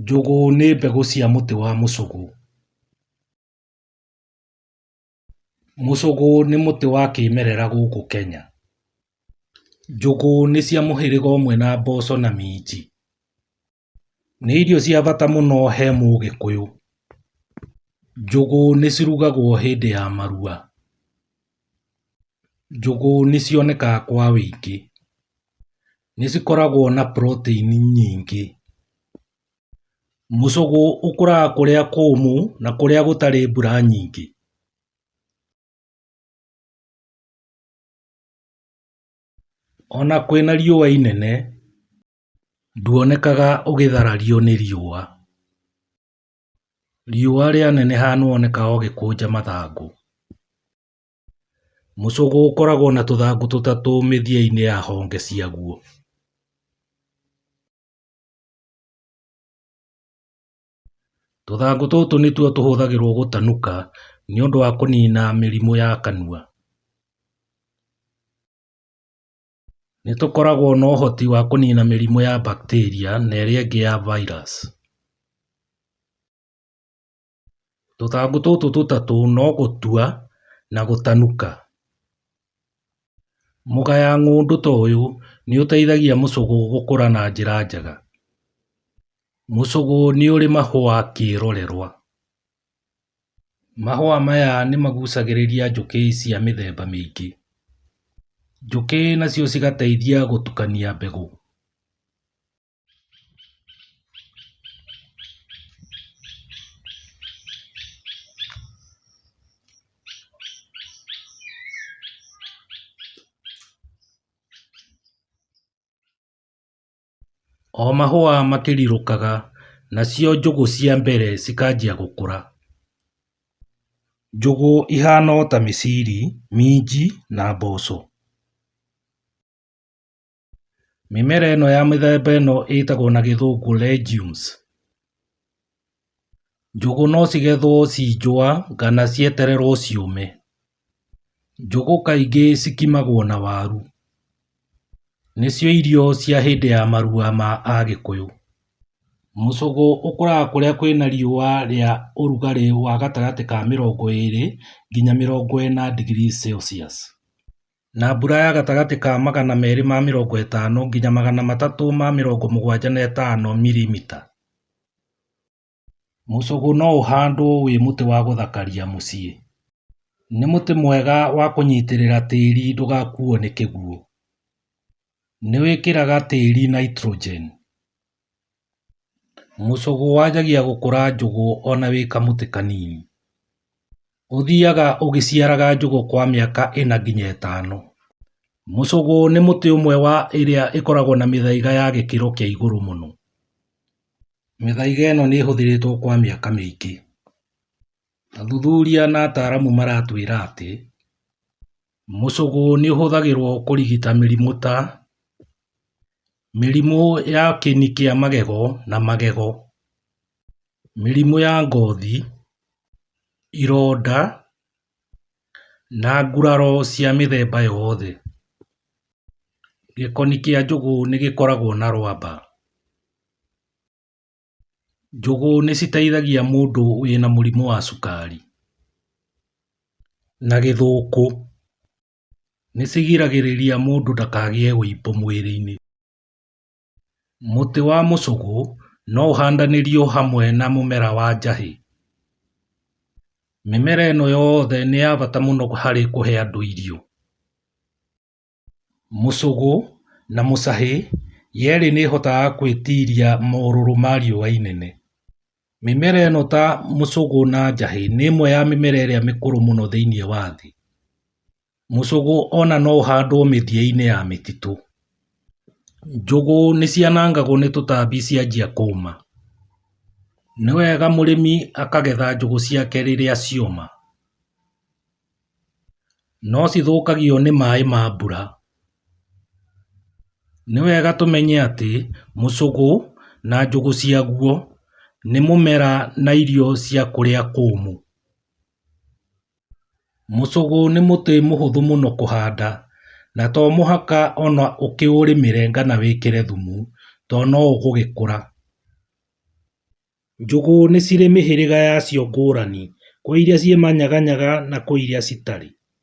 Njũgũ nĩ mbegũ cia mũtĩ wa mũcũgũ. Mũcũgũ nĩ mũtĩ wa kĩmerera gũkũ Kenya. Njũgũ nĩ cia mũhĩrĩga ũmwe na mboco na minji. Nĩ irio cia bata mũno he mũgĩkũyũ. Njũgũ nĩ cirugagwo hĩndĩ ya maruga. Njũgũ nĩ cionekaga kwa wĩingĩ. nĩ cikoragwo na proteini nyingĩ. Mũcũgũ ũkũraga kũrĩa kũmũ na kũrĩa gũtarĩ mbura nyingĩ. Ona kwĩna riũa inene nduonekaga ũgĩtharario nĩ riũa. Riũa rĩaneneha nĩ wonekaga ũgĩkũnja mathangũ. Mũcũgũ ũkoragwo na tũthangũ tũtatũ mĩthia-inĩ ya honge ciaguo. Tũthangũ tũtũ nĩtuo tũhũthagĩrwo gũtanuka nĩ ũndũ wa kũnina mĩrimũ ya kanua. Nĩ tũkoragwo na ũhoti wa kũnina mĩrimũ ya bacteria na ĩrĩa ĩngĩ ya virus. Tũthangũ tũtũ tũtatũ no gũtua na gũtanuka. Mũgaya ng'ũndũ ta ũyũ nĩ ũteithagia mũcũgũ gũkũra na njĩra njega. Mũcũgũ nĩ ũrĩ mahũa kĩrorerwa. Mahũa maya nĩ magucagĩrĩria njũkĩ cia mĩthemba mĩingĩ. Njũkĩ nacio cigateithia gũtukania mbegũ. O mahũa makĩrirũkaga, nacio njũgũ cia mbere cikanjia gũkũra. Njũgũ ihana o ta mĩciri, minji na mboco. Mĩmera ĩno ya mĩthemba ĩno ĩtagwo na gĩthũngũ legumes. Njũgũ no cigethwo ci njũa kana cietererwo ciũme. Njũgũ kaingĩ cikimagwo na waru. Nĩcio irio cia hĩndĩ ya maruga ma Agĩkũyũ. Mũcũgũ ũkũraga kũrĩa kwĩna riũa rĩa ũrugarĩ wa gatagatĩ ka mĩrongo ĩrĩ nginya mĩrongo ĩna degree Celsius. na mbura ya gatagatĩ ka magana merĩ ma mĩrongo ĩtano nginya magana matatũ ma mĩrongo mũgwanja na ĩtano mirimita. Mũcũgũ no ũhandwo wĩ mũtĩ wa gũthakaria mũciĩ. Nĩ mũtĩ mwega wa kũnyitĩrĩra tĩri ndũgakuo nĩ kĩguũ. Nĩ wĩkĩraga tĩri nitrogen. Mũcũgũ wanjagia gũkũra njũgũ ona wĩ kamũtĩ kanini. Ũthiaga ũgĩciaraga njũgũ kwa mĩaka ĩna nginya ĩtano. Mũcũgũ nĩ mũtĩ ũmwe wa ĩrĩa ĩkoragwo na mĩthaiga ya gĩkĩro kĩa igũrũ mũno. Mĩthaiga ĩno nĩ ĩhũthĩrĩtwo kwa mĩaka mĩingĩ. Athuthuria na ataaramu maratwĩra atĩ, Mũcũgũ nĩ ũhũthagĩrwo kũrigita mĩrimũ ta, mĩrimũ ya kĩni kĩa magego na magego, mĩrimũ ya ngothi, ironda na nguraro cia mĩthemba yothe. Gĩkoni kĩa njũgũ nĩ gĩkoragwo na rwamba. Njũgũ nĩ citeithagia mũndũ wĩna mũrimũ wa cukari, na gĩthũkũ, nĩ cigiragĩrĩria mũndũ ndakagĩe ũimbo mwĩrĩ-inĩ. Mũtĩ wa mũcũgũ no ũhandanĩrio hamwe na mũmera wa njahĩ. Mĩmera ĩno yothe nĩ ya bata mũno harĩ kũhe andũ irio. Mũcũgũ na mũcahĩ yerĩ nĩ ĩhotaga kwĩtiria morũrũ ma riũa inene. Mĩmera ĩno ta mũcũgũ na njahĩ nĩ ĩmwe ya mĩmera ĩrĩa mĩkũrũ mũno thĩinĩ wa thĩ. Mũcũgũ ona no ũhandwo mĩthiainĩ ya mĩtitũ. Njũgũ nĩ cianangagwo nĩ tũtambi cianjia kũma. Nĩ wega mũrĩmi akagetha njũgũ ciake rĩrĩa cioma. no cithũkagio nĩ maĩ ma mbura. Nĩ wega tũmenye atĩ mũcũgũ na njũgũ ciaguo nĩ mũmera na irio cia kũrĩa kũmũ. Mũcũgũ nĩ mũtĩ mũhũthũ mũno kũhanda na to mũhaka ona ũkĩũrĩmĩre kana wĩkĩre thumu to no ũgũgĩkũra. Njũgũ nĩ cirĩ mĩhĩrĩga yacio ngũrani, kwĩ iria ciĩ manyaga nyaga na kwĩ iria citarĩ.